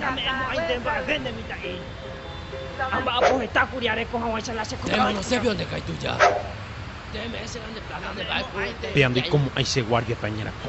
Name'ẽmo'ãite mba'eve nde mitã'i, ha mba'apo heta kuri areko haguãicha la che ko'ág̃a ojapo. Péa ndoikomo'ãi che guárdiape añerakõ.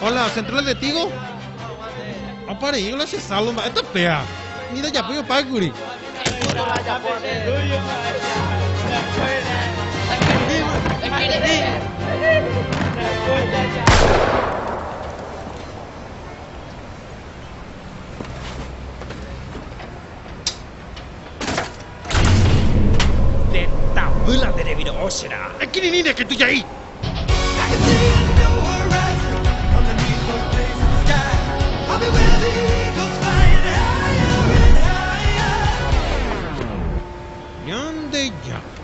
Hola, Centro del Testigo. Apa rei hola che salvo mba'e tapea. Ni ndajapói opákuri. Ndetavýla nde reviro'o che ra'a. Ekirirĩre che tujai. Ñandejára,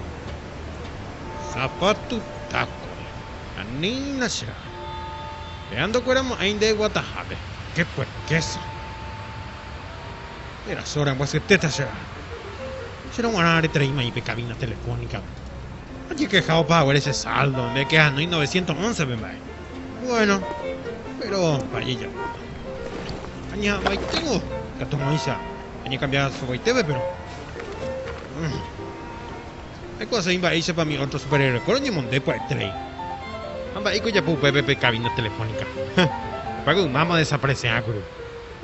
sapatu taco, anína che ra'a. Péa ndokuera mo'ãi nde guatahápe. Qué puerquésa. Erasora ambyasyetéta che ra'a. Che roguarã retereíma ipe cabina telefónicape. Ajekeháopa haguére che saldo, nde ke anói novecientos once pe mba'e. Bueno, péro mpa ajejapóta. Añeha'ãvaitévo katu moĩsa añekambia sovoitépe, péro aikuaaséi mba'éichapa umi ótro superhéroeko roñemonde pya'etereíva. Ha mba'éiko ojapo upépe pe kabína telefónika? Ha hepágo ymáma odesaparese'ã kuri.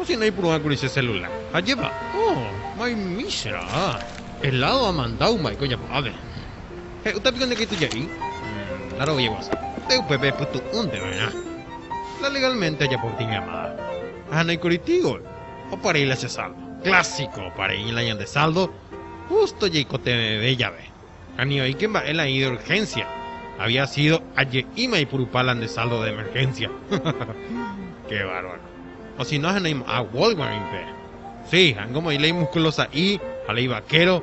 Osína oipuru'ã kuri che selulár. Ha jepa'o, maymíchera, eládo amandau mba'éiko ojapo ápe. He'úta piko nde katu ja'y la rovia guasu, pe upépe epytu'únte va'erã. La legálmente ajapo gotyo ñamada. Ahanói kuri Tigo, opa rei la che saldo. Clásico, opa rei la ñande saldo justo jaikotevẽve jave. Ani oĩke mba'e la ĩde urgencia, había sido aje'íma aipurupa la nde saldo de emergencia. Qué bárbaro. O si no ahenói mo'ã Walgmart rĩmpe. Sí, ha'éngo omoĩ la imuskulo sa'i ha la ivaquero,